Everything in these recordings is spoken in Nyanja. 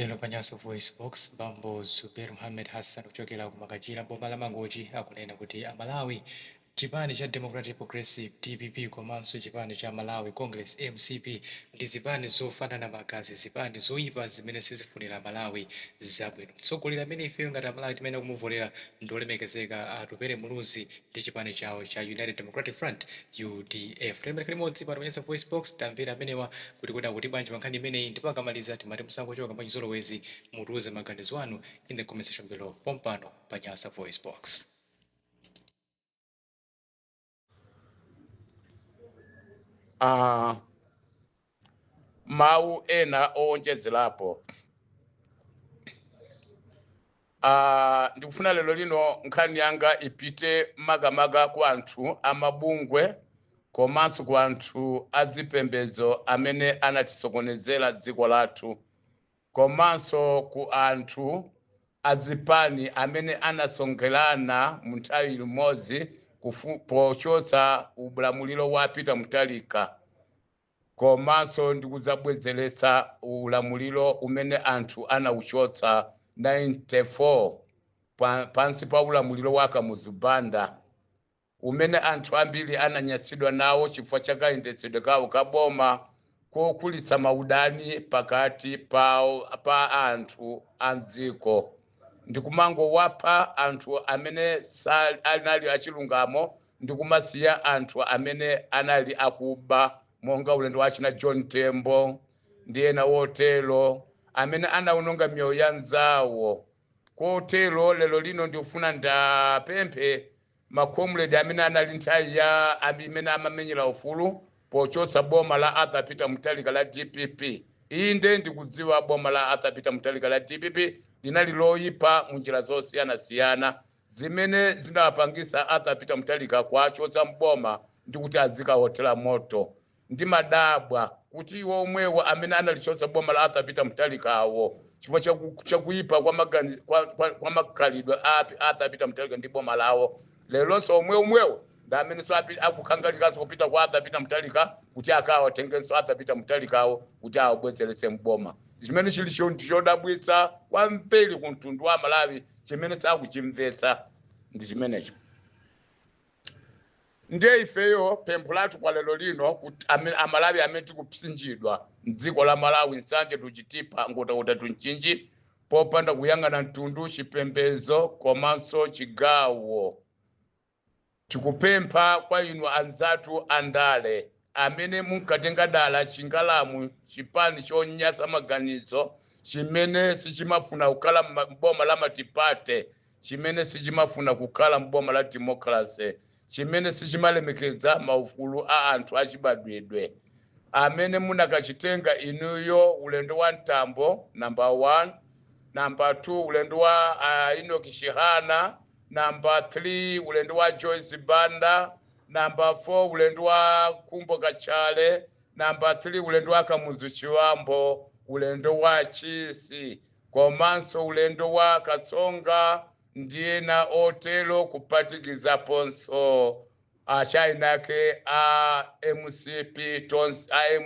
Lero pa Nyasa VoiceBox, bambo Zubeir Muhammed Hassan kuchokera ku Makanjira m'boma la Mangochi akunena kuti a Malawi, chipani cha Democratic Progressive, dpp, komanso chipani cha Malawi Congress, mcp, ndi zipani zofanana magazi, zipani zoipa zimene sizifunira a Malawi zabwino. Mtsogoleri amene ifeyo ngati a Malawi timayenera kumuvotera ndi olemekezeka a Atupele Muluzi. ndi chipani chawo cha United Democratic Front, udf. Tiyeni tikhale limodzi pano pa Nyasa VoiceBox, tamvere amenewa kuti kodi akuti bwanji pa nkhani imeneyi ndipo akamaliza timati musangochoka mwachizolowezi, mutiuze maganizo anu in the comment section below pompano pa Nyasa VoiceBox. mawu ena owonjezerapo Ah, ndikufuna lero lino nkhani yanga ipite makamaka ku anthu amabungwe komanso ku anthu azipembedzo amene anatisokonezera dziko lathu komanso ku anthu azipani amene anasonkherana mu nthawi limodzi kufu- pochotsa ulamuliro wa peter mutharika komanso ndi kudzabwezeretsa ulamuliro umene anthu anauchotsa 94 pa, pansi pa ulamuliro wa Kamuzu Banda umene anthu ambiri ananyatsidwa nawo chifukwa cha kayendetsedwe kawo ka boma kokulitsa maudani pakati pawo pa anthu a mdziko ndi kumangowapha anthu amene sa- anali achilungamo ndi kumasiya anthu amene anali akuba monga ulendo wa achina john tembo ndi ena otero amene anawononga miyoyo ya anzawo kotero lero lino ndikufuna ndapemphe makomredi amene anali nthawi ya ami- imene amamenyera ufulu pochotsa boma la arthur peter mutharika la dpp inde ndikudziwa boma la arthur peter mutharika la dpp linali loyipa mu njira zosiyanasiyana zimene zinawapangitsa Arthur Peter Mutharika kuwachotsa m'boma ndi kuti azikawothera moto. Ndimadabwa kuti iwo omwewo amene analichotsa boma la Arthur Peter Mutharikawo chifukwa cha ku- cha kuyipa kwa magani- kwa- kwa- kwa makhalidwe a Pi- Arthur Peter Mutharika ndi boma lawo leronso omwe omwewo ndi amenenso api- akukhangalikanso kupita kwa Arthur Peter Mutharika kuti akawatengenso Arthur Peter Mutharikawo kuti awabwezeretse m'boma chimene chili cho- ndi chodabwitsa kwambiri ku mtundu wa Malawi chimene sakuchimvetsa ndi chimenecho ndiye ifeyo pempho lathu kwa lero lino kuti ame- amalawi amene tikupsinjidwa mdziko la malawi nsanje to chitipa nkhotakota to mchinji popanda kuyang'ana mtundu chipembedzo komanso chigawo Tikupempha kwa inu anzathu a ndale amene munkatenga dala chingalamu chipani chonyasa maganizo chimene sichimafuna kukhala mboma la matipate chimene sichimafuna kukhala mboma la democracy chimene sichimalemekeza maufulu a anthu achibadwidwe amene munakachitenga inuyo ulendo wa mtambo number 1 number 2 ulendo wa uh, enoch chihana namba 3 ulendo wa joyce banda namba 4 ulendo wa khumbo kachali namba 3 ulendo wa kamuzu chibambo ulendo wa chisi komanso ulendo wa katsonga ndi ena otero kuphatikizaponso Achieni ake a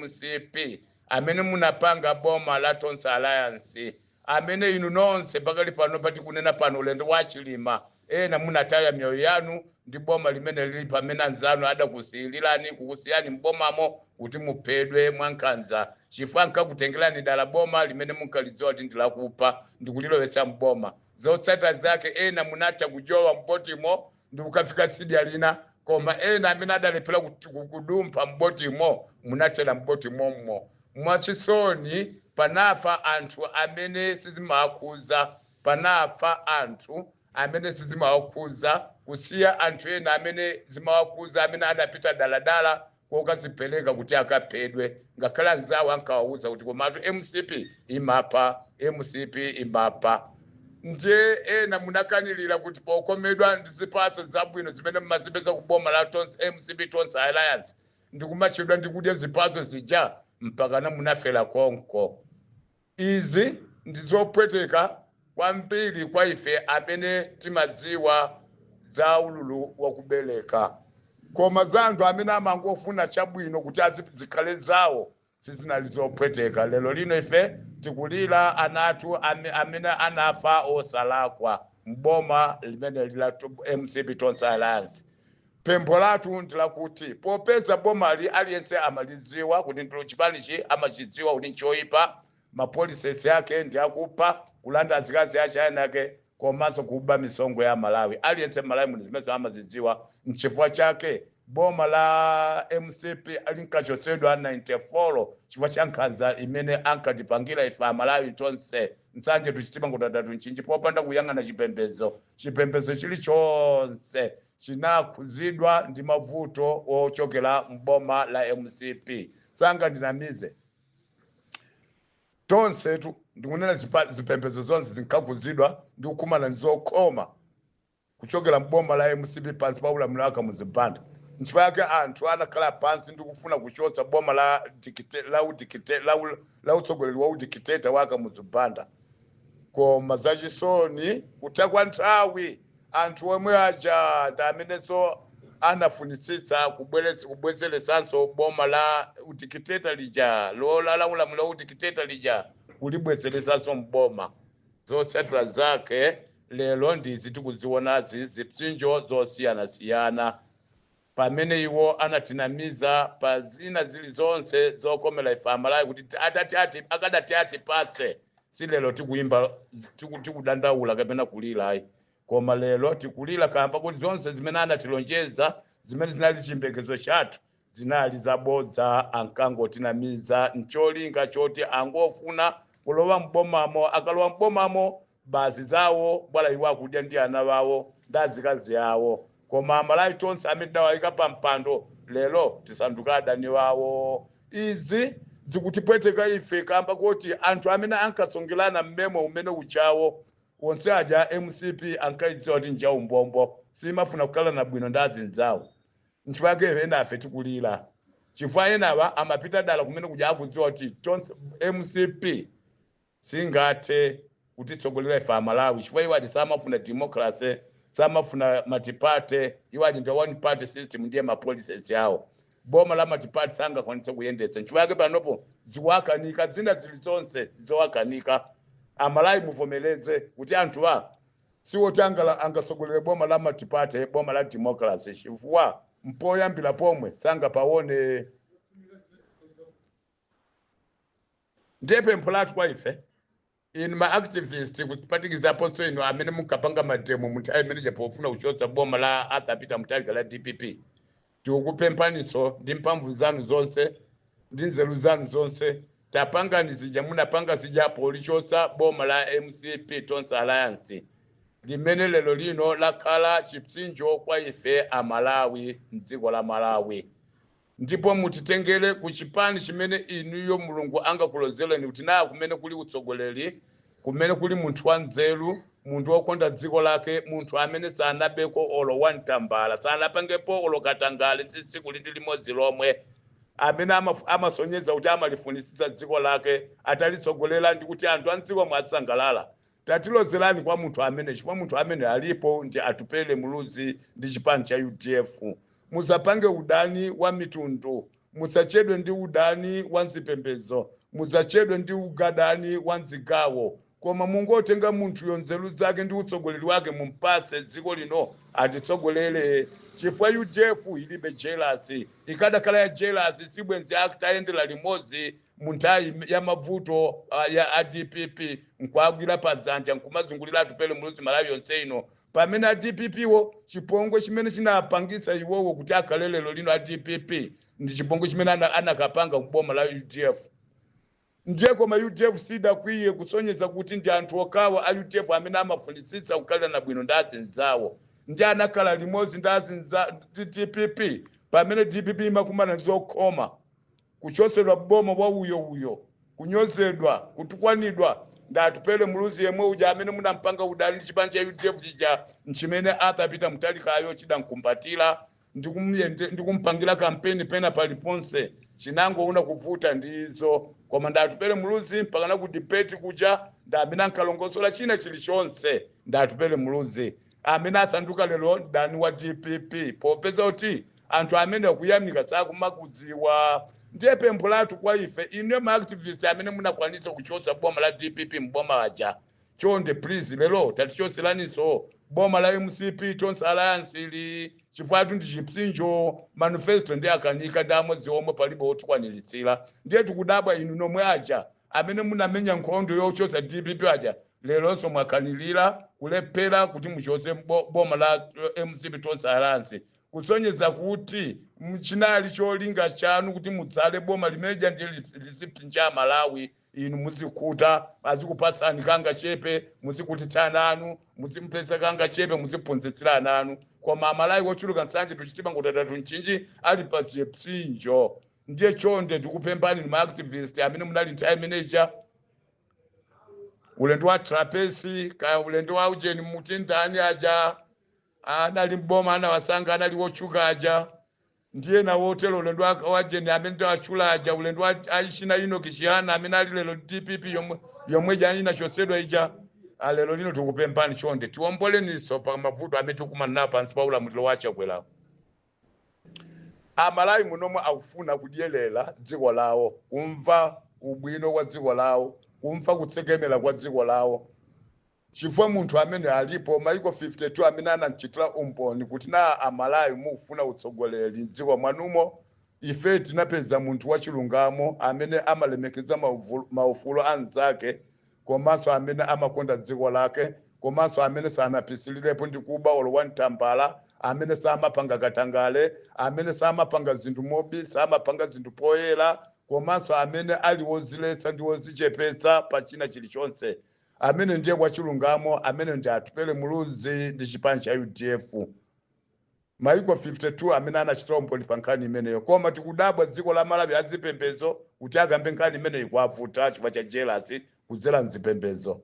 mcp amene munapanga boma la tonse alliance amene inu nonse pakali pano patikunena pano ulendo wa chilima ena munataya miyoyo yanu ndi boma limene lili pamene anzanu adakusiyilirani kukusiyani mbomamo kuti muphedwe mwankhanza chifukwa ankakutengerani dala boma limene munkalidziwa kuti ndilakupha ndikulilowetsa mboma zotsata zake ena munatha kujowa mbotimo ndikukafika tsidya lina koma ena amene adalephera kut- ku- kudumpha m'botimo munathera m'boti mommo mwachisoni panafa anthu amene sizimawakhudza panafa anthu amene sizimawakhudza kusiya anthu ena amene zimawakhudza amene adapita daladala kokadzipereka kuti akaphedwe ngakhale anzawo ankawauza kuti komatu mcp imapha mcp imapha ndiye ena munakanilira kuti pokomedwa ndi zipatso zabwino zimene mumazipeza ku boma la Tons- mcp tonse alliance ndikumachedwa ndikudya zipatso zija mpakana munafera konko Izi ndi zopweteka kwambiri kwa ife amene timadziwa za ululu wa kubeleka. Koma za anthu amene amangofuna chabwino kuti azipi zikhale zawo sizinali zopweteka. Lero lino ife tikulira ana athu ame, amene anafa osalakwa m'boma limeneli la mcp Tonse Alliance. Pempho lathu ndi lakuti popeza bomali aliyense amalidziwa kuti ndilo chipanichi amachidziwa kuti nchoipa, ma policies ake ndi akupha, kulanda azikazi achieni ake komanso kuba misonkho ya Amalawi. Aliyense Malawi muno zimenezo amazidziwa nchifukwa chake boma la mcp linkachotsedwa 94 chifukwa cha nkhanza imene ankatipangira ife Amalawi tonse. Nsanje to Chitipa, Nkhotakota to Mchinji popanda kuyang'ana chipembedzo. Chipembedzo chilichonse chinakhudzidwa ndi mavuto ochokera m'boma la mcp sangandinamize tonsetu ndikunena zipa- zipembedzo zonse zinkakhudzidwa ndi kukumana ndi zokhoma kuchokera m'boma la mcp pansi pa ulamuliro wa Kamuzu Banda nchifukwa yake anthu anakhala pansi ndi kufuna kuchotsa boma la dikite- la udikite- la u- la utsogoleri wa udikiteta wa Kamuzu Banda koma zachisoni kutha kwa nthawi anthu omwe aja ndi amenenso anafunitsitsa kubwereza kubwezeretsanso boma la udikiteta lija lola la ulamuliro wa udikiteta lija kulibwezeretsanso mboma zotsatira zake lero ndizi tikuzionazi zipsinjo zosiyanasiyana pamene iwo anatinamiza pa zina zilizonse zokomera ife amalawi kuti ti- atati ati akadati atipatse si lero tikuyimba tiku- tikudandaula kapena kulira ayi koma lero tikulira kamba kuti zonse zimene anatilonjeza zimene zinali chiyembekezo chathu zinali zabodza ankangotinamiza ncholinga choti angofuna kulowa mbomamo akalowa mbomamo basi zawo bwala iwo akudya ndi ana wawo ndi azikazi awo koma amalawi tonse amene tidawayika pa mpando lero tisanduka adani wawo izi zikutipweteka ife kamba koti anthu amene ankasongelana mmemo umene uchawo onse aja mcp ankayidziwa kuti njaumbombo simafuna kukhalana bwino ndi azinzawo nchifukwa yake enafe tikulira chifukwa enawa amapita dala kumene kuja akudziwa kuti tonse mcp singathe kutitsogolera ife amalawi chifukwa iwo aja samafuna democracy samafuna multiparty iwo aja ndi one party system ndiye mapolicies awo boma la multiparty sangakwanitse kuyendetsa nchifukwa yake panopo zikuwakanika zina zilizonse zowakanika amalawi muvomereze kuti anthuwa siwoti angala- angatsogolere boma la multiparty boma la democracy chifukwa mpoyambira pomwe sangapawone ndiye pempho lathu kwa ife inu ma activist kupatikizaponso inu amene munkapanga mademo mu nthawi imene ija pofuna kuchotsa boma la arthur peter mutharika la dpp tikukupemphaninso ndi mphamvu zanu zonse ndi nzeru zanu zonse tapangani zija munapanga zija polichotsa boma la mcp tonse alliance limene lero lino lakhala chipsinjo kwa ife amalawi mdziko la malawi ndipo mutitengere ku chipani chimene inuyo mulungu angakulozereni kuti naye kumene kuli utsogoleri kumene kuli munthu wanzeru munthu wokonda dziko lake munthu amene sanabeko olo one tambala sanapangepo olo katangale ndi tsiku lindi limodzi lomwe amene amaf- amasonyeza kuti amalifunitsitsa dziko lake atalitsogolera ndi kuti anthu a mdzikomo asangalala Tatilozelani kwa munthu amene chifukwa munthu amene alipo ndi Atupele Muluzi ndi chipani cha udf. Musapange udani wa mitundu, musachedwe ndi udani wa nzipembedzo, musachedwe ndi ugadani wa nzigawo koma mungotenga munthuyo nzeru zake ndi utsogoleri wake mumpase dziko lino atitsogolere chifukwa udf ilibe jelasi, ikadakhala ya jelasi sibwenzi atayendera limodzi mu nthawi ya mavuto ah, ya a dpp nkuwagwira pa dzanja nkumazungulira atupele muluzi malawi yonse ino pamene a dppwo chipongwe chimene chinapangitsa iwowo kuti akhale lero lino a dpp ndi chipongwe chimene ana- anakapanga mboma la udf ndiye koma udf sidakwiye kusonyeza kuti ndi anthu okhawa a udf amene amafunitsitsa kukhalirana bwino ndi azinzawo ndi anakhala limodzi ndi azinza ndi dpp pamene dpp imakumana ndi zokhoma Kuchotsedwa m'boma wa uyo uyo, kunyozedwa, kutukwanidwa ndi Atupele Muluzi yemwe uja amene munampanga udani ndi chipani cha udf chija nchimene Arthur Peter Mutharikayo chidamkumbatira ndi kumuyende- ndi kumpangira kampeni pena paliponse chinangoona kuvuta ndi izo koma ndi Atupele Muluzi mpakana ku debate kuja ndi amene ankalongosola china chilichonse ndi Atupele Muluzi amene asanduka lero mdani wa dpp popeza kuti anthu amenewa kuyamika sakumakudziwa ndiye pempho lathu kwa ife inuyo ma activist amene munakwanitsa kuchotsa boma la dpp mboma aja chonde please lero tatichotseraninso boma la mcp tonse alliance ili chifukwatu ndi chipsinjo manifesto ndi akanika ndi amodzi omwe palibe otikwaniritsira ndiye tikudabwa inu nomwe aja amene munamenya nkhondo yochotsa dpp aja leronso mwakanilira kulephera kuti muchotse bo- boma la eh, mcp tonse alliance kusonyeza kuti m- chinali cholinga chanu kuti mudzale boma limeja ndi li- lizipsinja amalawi inu muzikhuta azikupatsani kangachepe muzikhutitsa ana anu muzimupeza kangachepe muziphunzitsira ana anu koma amalawi ochuluka nsanje to chitipa nkhotakota to mchinji ali pa chipsinjo ndiye chonde tikupemphani inu ma activist amene munali nthawi imene ija ulendo wa trapence kaya ulendo wa ujeni muti ndani aja adali mboma anawasankha anali wotchuka aja ndiye nawo otero ulendo wa- wa ujeni amene tawatchula aja ulendo wa achina enock chihana amene ali lero dpp yomwe yomwe ija inachotsedwa ija Ah, lero lino tikupemphani chonde tiomboleninso pa mavuto amene tikumana nawo pansi pa ulamuliro wa chakwerawo amalawi muno omwe akufuna kudyerera dziko lawo kumva ubwino wa dziko lawo kumva kutsekemera kwa dziko lawo chifukwa munthu amene alipo maiko 52 amene anamchitira umboni kuti na amalawi mukufuna utsogoleri mdziko mwanumo ife tinapeza munthu wachilungamo amene amalemekeza mauvulu- maufulu a anzake komanso amene amakonda dziko lake komanso amene sanapisirirepo ndi kuba olo wa mtambala amene samapanga katangale amene samapanga zinthu mobisa amapanga zinthu poyera komanso amene ali woziletsa ndi wozichepetsa pa china chilichonse amene ndiye wachilungamo amene ndi atupele muluzi ndi chipani cha udf Maiko 52 amene anachitira umboni pa nkhani imeneyo koma tikudabwa dziko la Malawi azipembedzo kuti akambe nkhani imeneyi kwavuta chifukwa cha jealous kudzera mzipembedzo.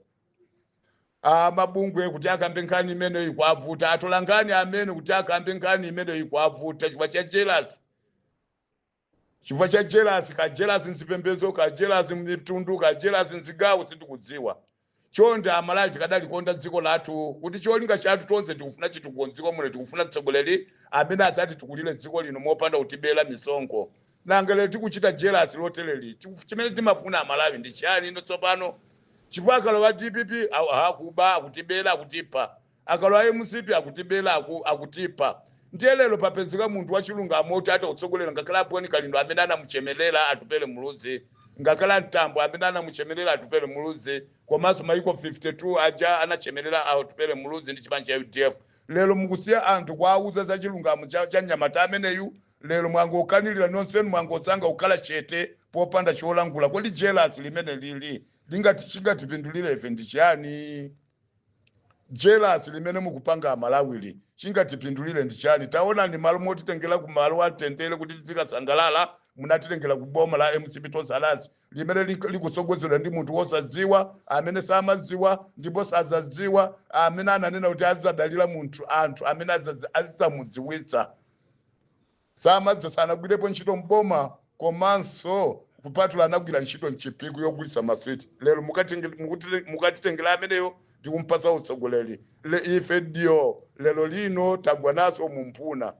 A mabungwe kuti akambe nkhani imeneyi kwavuta atolankhani amene kuti akambe nkhani imeneyi kwavuta chifukwa cha jealous. chifukwa cha jealous ka jealous mzipembedzo ka jealous mmitundu ka jealous mzigawo sindikudziwa chonde amalawi tikadalikonda dziko lathu kuti cholinga chathu tonse tikufuna chitukuko mdziko muno tikufuna mtsogoleri amene adzatitukulire dziko lino mopanda kutibera misonkho nanga tikuchita jealous lotereli chimene timafuna amalawi ndi chiyani ino tsopano chifukwa akalowa dpp akuba akutibera akutipha akalowa mcp akutibela aku, akutipha ndiye lero papezeka munthu wachilungamo oti atatsogolera ngakhale a boni kalindo amene anamuchemelera atupele muluzi ngakhale mtambo amene anamuchemelera atupele muluzi komanso maiko 52 aja anachemelera atupele muluzi ndi chipani cha udf lero mukusiya anthu kuwauza za chilungamo cha, cha mnyamata ameneyu lero mwangokanirira nonsenu mwangosankha kukhala chete popanda cholankhula kodi jealous limene lili chingatipindulire ife ndi chiyani jelasi limene mukupanga amalawili chingatipindulire ndi chani taonani malo motitengera ku malo amtendere kuti tizikasangalala munatitengera ku boma la mcp tonse alliance limene lik- likutsogozedwa ndi munthu wosadziwa amene samadziwa ndipo sadzadziwa amene ananena kuti adzadalira munthu anthu amene azazi- azidzamudziwitsa samadziwa sanagwirepo ntchito mboma komanso kupatula anagwira ntchito mchipiku yogulisa maswiti lero mukatenge- mukuti- mukatitengera ameneyo ndikumpatsa utsogoleri Le- ife ndiye lero lino tagwa nazo mumphuno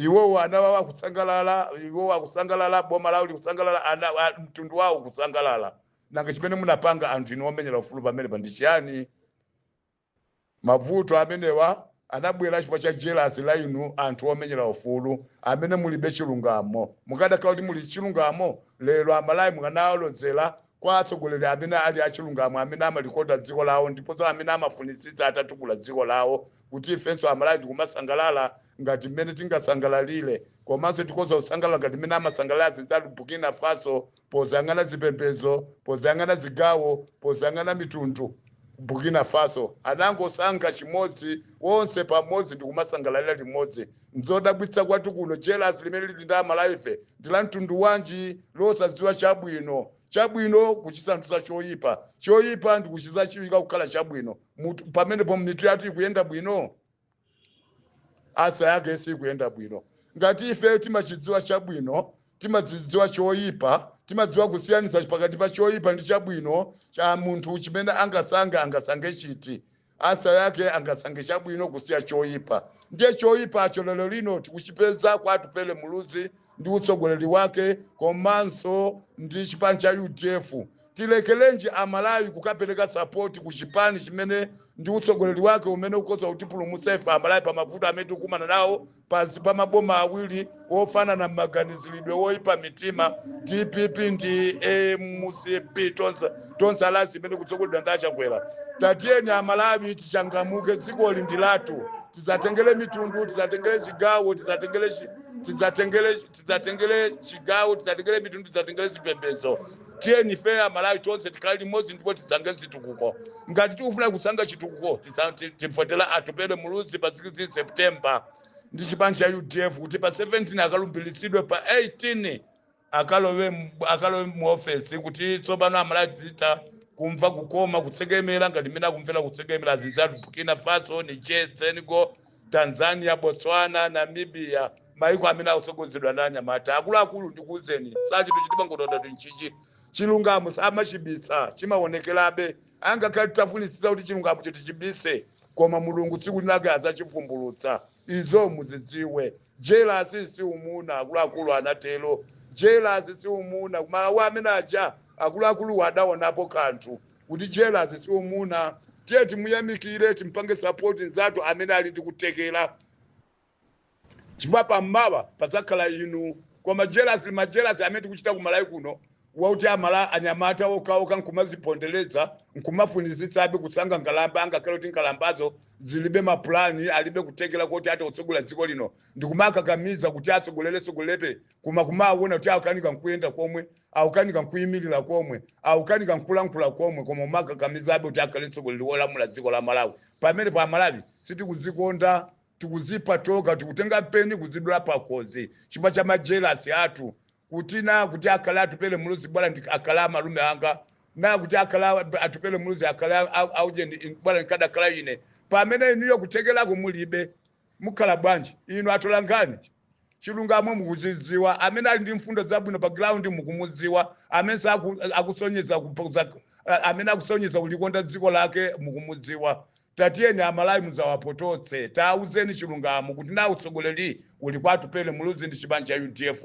iwowo ana wawo akusangalala iwowo akusangalala boma lawo likusangalala ana a- mtundu wawo kusangalala nanga chimene munapanga anthu inu omenyera ufulu pamenepa ndi chiyani Mavuto amenewa anabwela chifukwa cha jelasi la inu anthu omenyela ufulu amene mulibe chilungamo. Mukadakhala kuti muli chilungamo lero amalawi mukanawalozela kwa atsogoleri amene ali achilungamo amene amalikonda dziko lawo ndiponso amene amafunitsitsa atatukula dziko lawo kuti ifenso amalawi tikumasangalala ngati mmene tingasangalalile komanso tikhoza kusangalala ngati mmene amasangalala azinzathu Burkina Faso posayang'ana zipembedzo posayang'ana zigawo posayang'ana mitundu burkina faso anangosankha chimodzi wonse pamodzi ndikumasangalalira limodzi nzodabwitsa kwathu kuno jelasi limene lili ndi amalawife ndi la mtundu wanji losadziwa chabwino chabwino kuchisandutsa choyipa choyipa ndikuchiza chiwika kukhala chabwino Mutu- pamenepo mitu yathu ikuyenda bwino ansa yake sikuyenda bwino ngati ife timachidziwa chabwino timachidziwa choyipa timadziwa kusiyanitsa pakati pa choyipa ndi chabwino cha munthu chimene angasankhe angasankhe chiti ansa yake angasankhe chabwino kusiya choyipa ndiye choyipacho lero lino tikuchipeza kwa atupele muluzi ndi utsogoleri wake komanso ndi chipani cha udf Tilekelenji a Malawi kukapeleka support ku chipani chimene ndi utsogoleri wake umene ukhoza kutipulumutsa ife a Malawi pa mavuto amene tikukumana nawo pansi pa maboma awiri ofanana m'maganizilidwe oipa mitima dpp ndi mcp tonse tonse alliance imene ikutsogoleredwa ndi achakwera tatiyeni a Malawi tichangamuke dzikoli ndi lathu tisatengere mitundu tisatengere zigawo tisatengere chi- tisatengere tisatengere chigawo tisatengere mitundu tisatengere zipembedzo tiyeni ife amalawi tonse tikhale limodzi ndipo tisankhe chitukuko ngati tikufuna kusankha chitukuko titsa- ti- tivotere atupere muluzi pa 16 september ndi chipani cha udf kuti pa 17 akalumbiritsidwe pa 18 akalowe m- akalowe mu ofesi kuti tsopano amalawi tizitha kumva kukoma kutsekemera ngati mmene akumvera kutsekemera azinzathu burkina faso niger senegal tanzania botswana namibia maiko amene akutsogozedwa ndi anyamata akuluakulu ndikuwuzeni zachinthu chitimangotoda tinchichi chilungamo samachibisa chimaonekerabe angakhale titafunitsitsa kuti chilungamochi tichibise koma mulungu tsiku linake adzachivumbulutsa izo muzidziwe jelasi si umuna akuluakulu anatero jelasi si umuna kumalawi amene aja akuluakuluwo adaonapo kanthu kuti jealous si umuna tiye timuyamikire timpange support nzathu amene ali ndi kuthekera chifukwa pammawa padzakhala inu koma jealous ma jealous amene tikuchita ku malawi kuno wakuti amala anyamata okhaokha nkumazipondereza nkumafunitsitsabe kusankha nkhalamba angakhale kuti nkhalambazo zilibe mapulani alibe kuthekera kuti athe kutsogolera dziko lino ndikumakakamiza kuti atsogoleretsogolerebe koma kumawona kuti akukanika nkuyenda komwe akukanika nkuyimirira komwe akukanika nkulankhula komwe koma kumakakamizabe kuti akhale mtsogoleri wolamula dziko la malawi pamenepa amalawi sitikudzikonda tikuzipha tokha tikutenga mpeni kuzidula pakhosi chifukwa cha majelasi athu kuti na kuti akhale atupele muluzi bwana ndi- akhale amalume anga na kuti akhale a- atupele muluzi akhale a- a- auje ndi- bwana ndikadakhala ine pamene inuyo kuthekerako mulibe mukhala bwanji inu atolankhani chilungamo mukuchidziwa amene ali ndi mfundo zabwino pa ground mukumudziwa amene saku- akusonyeza kupoza- a- amene akusonyeza kulikonda dziko lake mukumudziwa tatiyeni amalawi muzawapototse tauzeni chilungamo kuti nawo utsogoleri uli kwa atupele muluzi ndi chipani cha udf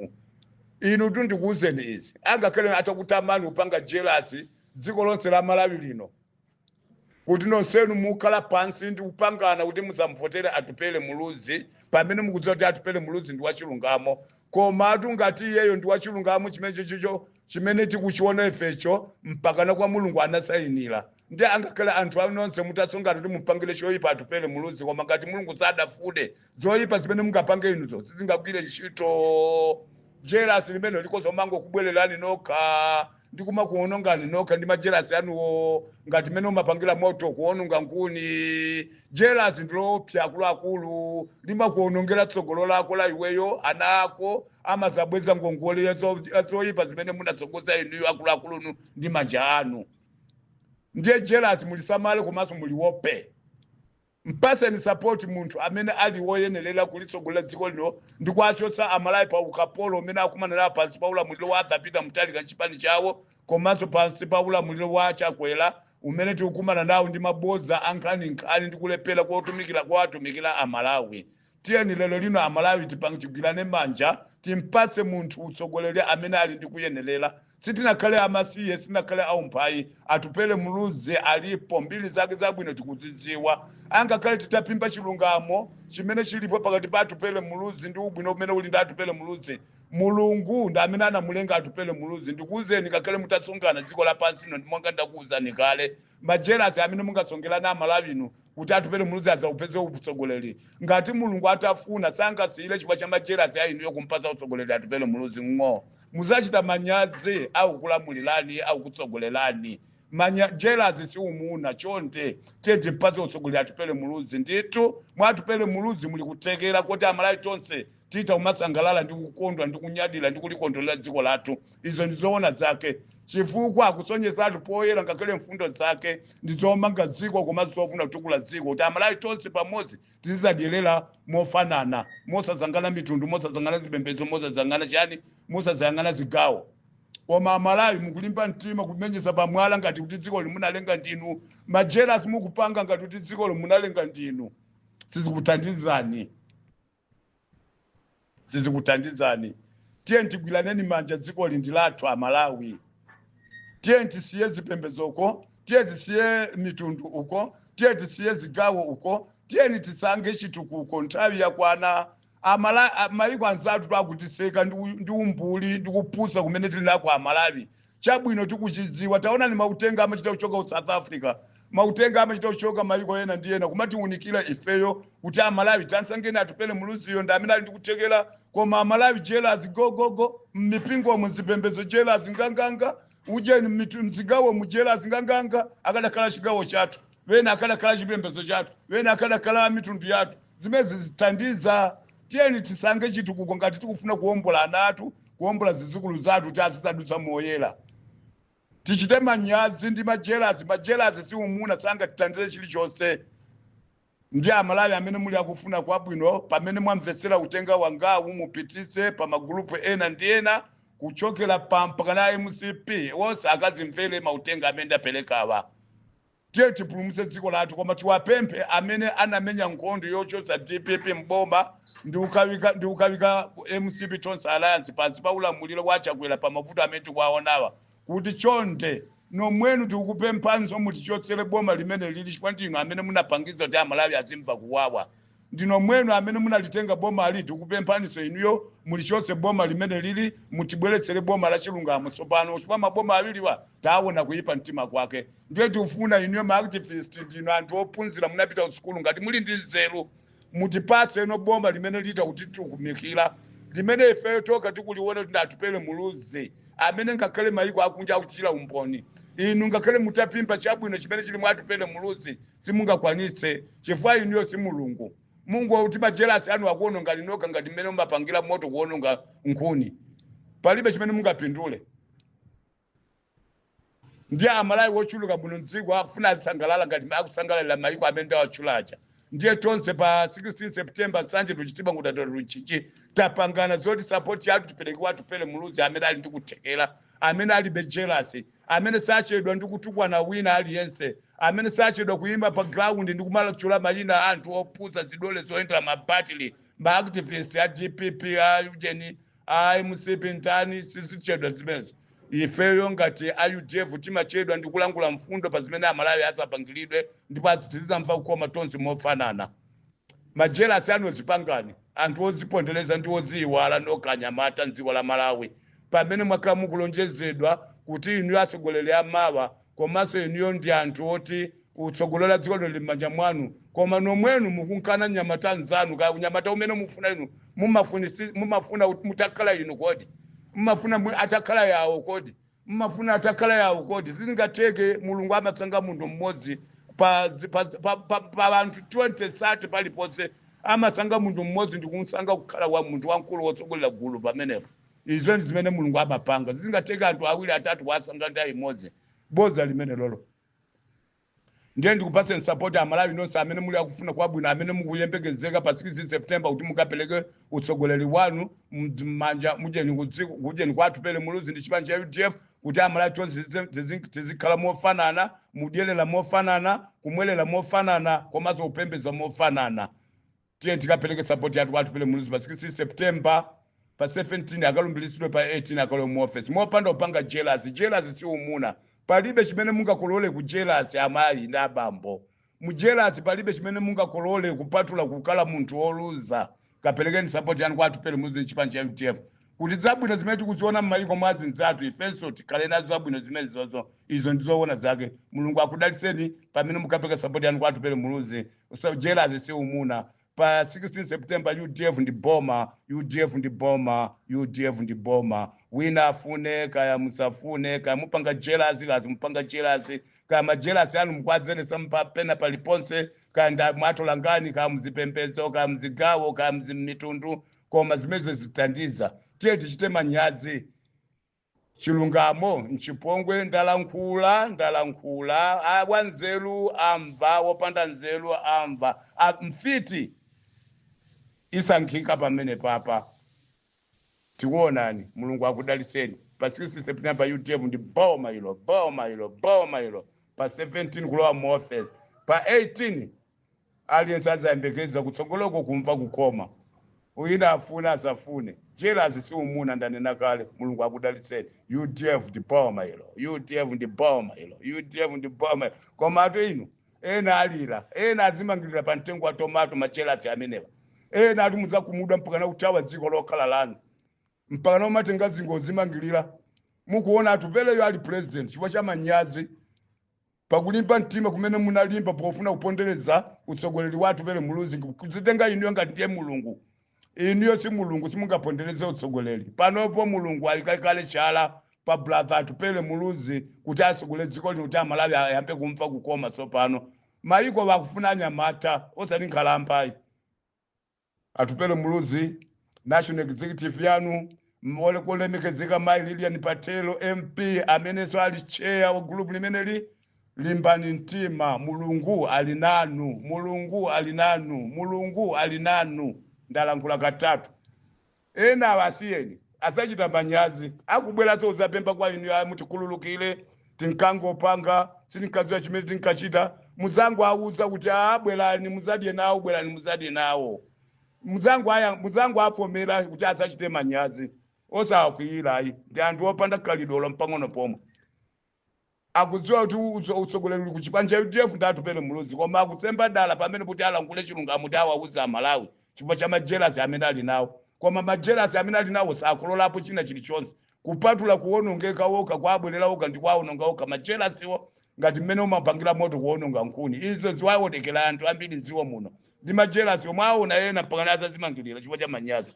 inu tu ndikuuzeni izi angakhale atakutamani kupanga jelasi dziko lonse la malawi lino kuti nonsenu mukhala pansi ndi kupangana kuti muzamvotere atupele muluzi pamene mukudziwa kuti atupele muluzi ndi wachilungamo komatu ngati iyeyo ndi wachilungamo chimene chochocho chimene tikuchiona ifecho mpakana kwa mulungu anasayinira ndi angakhale anthu anu nonse mutatsongana kuti mupangire choyipa atupele muluzi koma ngati mulungu sadafune zoyipa zimene mungapange inuzo sizingagwire ntchito jerasi limene likuzomangokubwererani nokha ndi kumakuonongani nokha ndi majelasi anuwo ngati mmene umapangira moto kuononga nkhuni jelasi ndiloopsa akuluakulu limakuonongera tsogolo lako la iweyo ana ako amazabweza ngongole ya zo- ya zoyipa zimene munatsogoza inuyo akuluakulunu ndi manja anu ndiye jelasi mulisamale komanso muliwope Mpatseni support munthu amene ali woyenelela kulitsogolera dziko lino ndi kuwachotsa a Malawi pa ukapolo umene akumana nawo pansi pa ulamuliro wa Arthur Peter Mutharika ndi chipani chawo komanso pansi pa ulamuliro wa Chakwera umene tikukumana nawo ndi mabodza a nkhaninkhani ndi kulephera kotumikila kowatumikila a Malawi. tiyeni lero lino amalawi tipa- tigwirane manja timpatse munthu utsogoleri amene ali ndi kuyenerera sitinakhale amasiye sitinakhale aumphayi atupele muluzi alipo mbiri zake zabwino tikuzidziwa angakhale titapimba chilungamo chimene chilipo pakati pa atupele muluzi ndi ubwino umene uli ndi atupele muluzi mulungu ndi amene anamulenga atupele muluzi ndikuwuzeni ngakhale mutatsongana dziko lapansi lino ndi monga ndakuwuzani kale majerasi amene mungatsongelana amalawi inu kuti atupele muluzi adzaupeze utsogoleri ngati mulungu atafuna sangasiyire chifukwa cha majerasi a inuyo kumpasa utsogoleri atupele muluzi ng'o muzachita manyazi akukulamulirani akukutsogolerani jerasi si umuna chonde tiye timpase utsogoleri atupele muluzi ndithu mwa atupele muluzi muli kuthekera kuti amalawi tonse titha kumasangalala ndi kukondwa ndi kunyadira ndi kulikondwerera dziko lathu izo ndi zoona zake chifukwa akusonyezatu poyera ngakhale mfundo zake ndi zomanga dziko komanso zofuna kutukula dziko kuti amalawi tonse pamodzi tizizadyerera mofanana mosayang'ana mitundu mosayang'ana zipembedzo mosayang'ana chani mosayang'ana zigawo koma amalawi mukulimba mtima kumenyeza pamwala ngati kuti dzikoli munalenga ndinu majerasi mukupanga ngati kuti dzikoli munalenga ndinu sizikuthandizani sizikuthandizani tiyeni tigwiraneni manja dzikoli ndi lathu amalawi tiyeni tisiye zipembedzo uko tiyeni tisiye mitundu uko tiyeni tisiye zigawo uko tiyeni tisankhe chitukuko nthawi yakwana Amala- a- maiko anzathu akutiseka ndi u- ndi umbuli ndi kupusa kumene tili nako amalawi chabwino tikuchidziwa taonani mautenga amachita kuchoka ku south africa mautenga amachita kuchoka mayiko ena ndi ena kumatiunikira ifeyo kuti amalawi tamsankheni atupele muluziyo ndi amene ali ndikuthekera koma amalawi jelasi gogogo mmipingomo mzipembedzo jelasi nganganga ujeni mmitu- mzigawomu jelasi nganganga akadakhala chigawo chathu wena akadakhala chipembedzo chathu wena akadakhala mitundu yathu zimene sizithandiza tiyeni tisankhe chitukuko ngati tikufuna kuwombola ana athu kuwombola zidzukulu zathu kuti azidzadutsa moyera tichite manyazi ndi majelasi majelasi si umuna sangatithandize chilichonse ndiye amalawi amene muli akufuna kwabwino pamene mwamvetsera utenga wangawu mupititse pa magulupu ena ndi ena kuchokera apa mpakana mcp wonse akazimvere mautenga amene ndaperekawa Tiyeni tipulumutse dziko lathu koma tiwapemphe amene anamenya nkhondo yochotsa dpp m'boma ndi kukawika ndi kukawika mcp tonse alliance pansi pa ulamuliro wa chakwera pa mavuto amene tikuwaonawa kuti chonde nomwenu tikukupemphanso mutichotsere boma limene lili chifukwa ndinu amene munapangitsa kuti amalawi azimva kuwawa ndi nomwenu amene munalitenga bomali tikupemphaninso inuyo mulichotse boma limene lili mutibweretsere boma la chilungamo tsopano chifukwa maboma awiriwa taona kuyipa mtima kwake ndiye tikufuna inuyo ma activist ndinu anthu ophunzira munapita kusukulu ngati muli ndi nzeru mutipatse inu boma limene lita kuti tikutumikira limene ifeyo tokha tikuliona kuti atupele muluzi amene ngakhale mayiko akunja akuchitira umboni inu ngakhale mutaphimba chabwino chimene chili mwa atupele muluzi simungakwanitse chifukwa inuyo si mulungu mungoti majelasi anu akuonongani nokha ngati mmene umapangira moto kuononga nkhuni palibe chimene mungapindule ndiye amalawi wochuluka muno mdziko akufuna azisangalala ngati akusangalalira mayiko amene ndawatchula aja ndiye tonse pa 16 september nsanje to chitipa nkhotakota to mchinji tapangana zoti sapoti yathu tipereke kwa atupele muluzi amene ali ndi kuthekera amene alibe jelasi amene sachedwa ndi kutukwana wina aliyense, amene sachedwa kuyima pa ground ndi kumatchula mayina a anthu opusa zidole zoyendera ma battery, ma activist a dpp a ujeni a mcp ndani sizichedwa zimenezo. Ifeyo ngati a UDF timachedwa ndi kulankhula mfundo pa zimene amalawi adzapangiridwe ndipo azi- tizidzamva kukoma tonse mofanana. majelasi anu zipangani anthu odzipondereza ndi odziyiwala nokha anyamata mdziko la malawi pamene mwakhala mukulonjezedwa kuti inuyo atsogoleri amawa komanso inuyo ndi anthu oti utsogoleri wa dziko lino lili m'manja mwanu koma nomwenu mukumukana mnyamata nzanu kaya mnyamata umene mufuna inu mumafunisi- mumafuna kuti mutakhala inu kodi mumafuna mu- atakhala yawo kodi mmafuna atakhala yawo kodi sizingatheke mulungu amatsanga munthu mmodzi pa dzi- pa dzi- pa- pa- pa anthu 20 30 paliponse amasankha munthu mmodzi ndikumsankha kukhala wa munthu wamkulu wotsogolera gulu pamenepo izo ndi zimene mulungu amapanga sizingatheke anthu awiri atatu kuwasankha nthawi imodzi bodza limenelolo ndiye tikupatseni sapoti amalawi nonse amene muli akufuna kwabwino amene mukuyembekezeka pa 16 september kuti mukapereke utsogoleri wanu md- m'manja mujeni kudziko kujeni kwa atupele muluzi ndi chipani cha udf kuti amalawi tonse tizi- tizi- tizikhala mofanana kudyerera mofanana kumwerera mofanana komanso kupembedza mofanana tiye tikapeleke sapoti yathu kwa atupele muluzi pa 16 september pa 17 akalumbiritsidwe pa 18 akalowe mu office mopanda kupanga jelasi jelasi si umuna palibe chimene mungakolole ku jelasi amayi ndi abambo mu jelasi palibe chimene mungakolole kupatula kukhala munthu woluza kapelekeni sapoti yanu kwa atupele muluzi chipani cha udf kuti zabwino zimene tikuziona m'mayiko mwa azinzathu ifenso tikhale nazo zabwino zimene zozo izo ndizoona zake mulungu akudalitseni pamene mukapereka sapoti yanu kwa atupele muluzi jelasi si umuna pa 16 september udf ndi boma udf ndi boma udf ndi boma wina afune kaya musafune kaya mupanga jelasi kaya simupanga jelasi kaya majelasi anu mukwazelesa mpapena paliponse kaya nda mwatola ngani kaya muzipembedzo kaya muzigawo kaya muzimitundu koma zimenezo sizithandiza tiye tichite manyazi Chilungamo nchipongwe ndalankhula ndalankhula a wanzeru amva wopanda nzeru amva mfiti yasankhika pamene papa tikuonani mulungu akudalitseni pa 16 september udf ndi boma ilo boma ilo boma ilo pa 17 kulowa mu office pa 18 aliyense azayembekeza kutsogoloko kumva kukoma wina afune asafune jealous si umuna ndanena kale mulungu akudalitseni udf ndi boma ilo udf ndi boma ilo udf ndi boma ilo koma ato inu ena alira ena azimangirira pa mtengo wa tomato majelasi amenewa ena ati mudzakhumudwa mpakana kuthawa dziko lokhala lanu mpakana umatenga chingwe kuzimangirira mukuona atupeleyo ali president chifukwa cha manyazi pa kulimba mtima kumene munalimba pofuna kupondereza utsogoleri wa atupele muluzi kudzitenga inuyo ngati ndiye mulungu inuyo si mulungu simungapondereze utsogoleri panopo mulungu ayika kale chala pa brother atupele muluzi kuti atsogole dziko lino kuti amalawi ayambe kumva kukoma tsopano mayiko akufuna anyamata osati nkhalambayi Atupele Muluzi, National Executive yanu, m- ole- kulemekezeka Mai Lilian Patel MP amenenso ali chair wa group limeneli, limbani mtima, Mulungu ali nanu, Mulungu ali nanu, Mulungu ali nanu. Ndalankhula katatu. Enawa asiyeni, adzachita manyazi. Akubweranso kudzapempha kwa inuyo, a mutikhululukire, tinkangopanga, sitinkadziwa chimene tinkachita. Mudzangowauza kuti, a bwerani mudzadye nawo, bwerani mudzadye nawo. Mudzangoaya- Mudzangoafomera kuti adzachite manyazi. Osawakwiira ayi, ndi anthu opanda khalidwe olo mpang'ono pomwe. Akudziwa kuti utso- utsogoleri uli kuchipani cha udf ndi atupele muluzi koma akuzemba dala pamene kuti alankhule chilungamo kuti awauze amalawi chifukwa cha majelasi amene ali nawo koma majelasi amene ali nawo sakololapo china chilichonse kupatula kuwonongeka okha kuwabwerera okha ndi kuwawononga okha majelasiwo ngati mmene umapangira moto kuwononga nkhuni izo ziwaonekera anthu ambiri mdziko muno ndi majelasi omwe aona ena mpakana adzadzimangirira chifukwa cha manyazi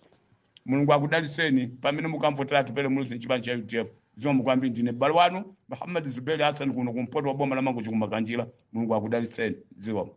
mulungu akudalitseni pamene mukamvotera atupele muluzi mchipani cha udf zikomo kwambiri ndine mbale wanu muhammad zuberi hassan kuno kumpoto kwa boma la mangochi kumakanjira mulungu akudalitseni zikomo